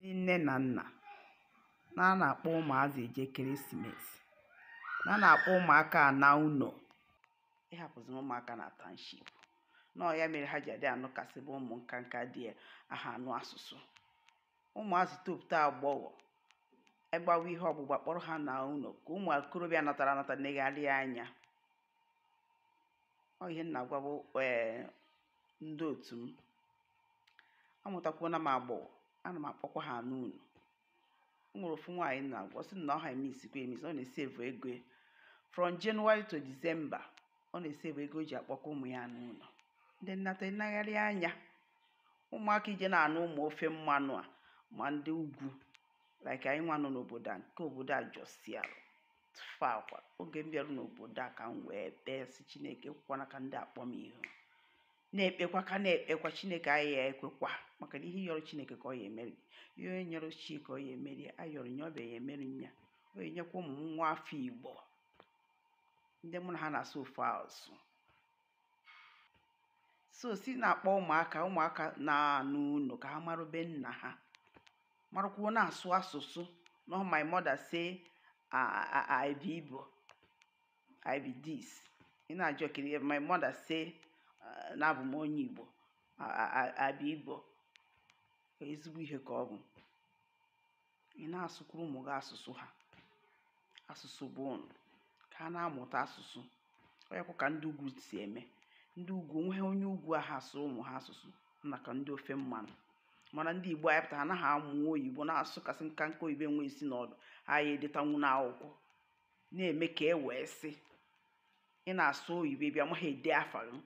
ndị nne na nna na a na-akpọ ụmụazị eje ekeresimesi na a na-akpọ ụmụaka ana ụnọ ịhapụzi ụmụaka na township na ọ ya mere ha ji adị anụ kasị bụ ụmụ nka nka di aha anụ asụsụ ụmụazị topụta agbọghọ egbawa ihe ọgbụgba kpọrọ ha naa ụnọ ka ụmụ okorobịa natara anata negharịa anya ọ ihe m na-agwabu ee ndị otu m amụtakwuona m agbọghọ ana m akpọkwa ha ana ụnọ o nwere ofu nwaanyị m na-agwa ọ sị m na ọ ha emisikwa emisi ọ na-esevu ego ya from January to December ọ na-esevu ego o ji akpọkọ ụmụ ya ana ụnọ ndị nnata enegharị anya ụmụaka ije na-anụ ụmụ ofe mmanụ a ma ndị ugwu like anyị nwa nọ n'obodo a nke obodo a jọsialụ tụfịakwa oge m bịara n'obodo a ka m wee kpee sị chineke ekwekwana ka ndị a kpọ m ihu na-ekpekwa ka na-ekpekwa chineke aya ekwekwa maka na ihe ị yọrọ chineke ka ọ ya emere ihe onye yọrọ chi ka ọ ya emeri ayọrọ nye ọbịa ya emeri nya ọ ya enyekwa ụmụ m nwa afọ igbo ndị mụ na ha na-asụ ofu asụ so si na-akpọ ụmụaka ụmụaka na-ana ụnọ ka ha maru be nna ha marakwuo na-asụ asụsụ no my mother say I be Igbo I be this ị na-ajụ kiri my mother say na abụ m onye Igbo I be Igbo ezigbo ihe ka ọ bụ ị na-asụkwuru ụmụ gị asụsụ ha asụsụ be unu ka ha na-amụta asụsụ ọ yakwa ka ndị ugwu si eme ndị ugwu onweghị onye ugwu aha asụ ụmụ ha asụsụ na ka ndị ofe mmanụ mana ndị igbo anyị pụtara anaghị amụ oyibo na-asụ kasị nka nka oyibo enwe isi na ọdụ aya edetanwu n'akwụkwọ na-eme ka e wee sị ị na-asụ oyibo bịa maghị ede afa gị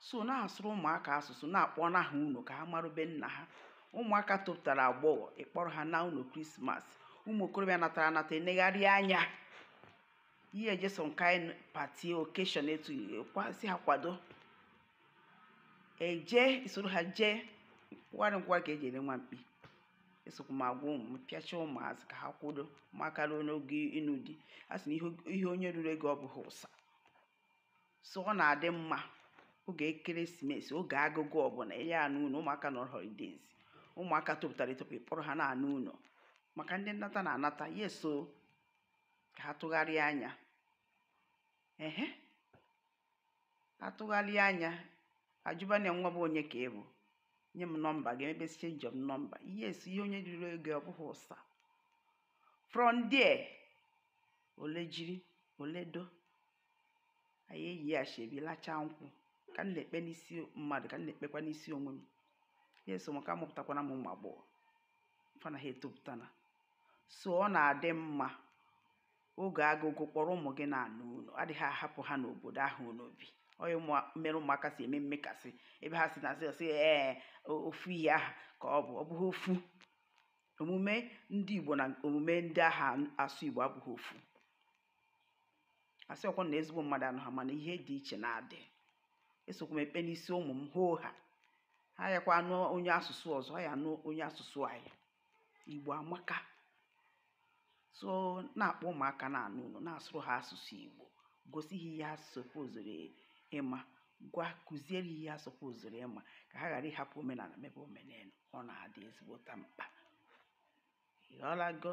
so na-asụrụ ụmụaka asụsụ na-akpọna ha ụnọ ka ha maru be nna ha ụmụaka topụtara agbọghọ ị kpọrọ ha naa ụnọ krismas ụmụ okorobịa natara anata enegharị anya ị ya eje some kind pati okeshọn etu kwasị ha kwado eje i soro ha jee nkwụgharị nkwụgharị ka e ji ere nwa mkpi esokwa m agwa ụmụ m pịacha ụmụazị ka ha kwudo maka ruo n'oge ịnụ di a sị na ihe onye ruru ogo ọ bụghị ụsa so ọ na-adị mma oge ekeresimesi oge agụgụ ọbụna ị ya ana ụnọ ụmụaka nọ holidays ụmụaka topụtara etopụ kpọrọ ha na-ana ụnọ maka ndị nnata na-anata ya so ka ha tụgharịa anya ehe atụgharịa anya ajụba nya nwa be onye ka ị bụ nye m nọmba gị e mebe change of nọmba yes ihe onye ruru ogo ọ bụghị ụsa from there ole jiri ole do anyị eyi ashebi lachaa nkwụ ka m na-ekpe n'isi mmadụ ka m na-ekpekwa n'isi onwe m yes o maka amụpụtakwana m ụmụ agbọghọ fa na ha etopụtana so ọ na-adị mma oge agụgụ kpọrọ ụmụ gị na-ana ụnọ adịghị ahapụ ha n'obodo ahụ unu bi ọ ya mere ụmụaka si eme mmekasị ebe ha si na asị ọsị ee ofu ihe aha ka ọ bụ ọ bụghị ofu omume ndị Igbo na omume ndị anaghị asụ Igbo abụghị ofu asịkwọ m na ezigbo mmadụ anọha mana ihe dị iche na-adị esokwa m ekpe n'isi ụmụ m hoohaa ha yakwa anụ onye asụsụ ọzọ ha ya anụ onye asụsụ anyị Igbo amaka so na-akpọ ụmụaka na-ana ụnọ na-asụrụ ha asụsụ Igbo gosi ha ihe ha sopozuru ịma gwa kụziere ihe ha sopozuru ịma ka ha ghara ịhapụ omenala mebe omenelu ọ na-adị ezigbota mkpa. Ị ghọtago?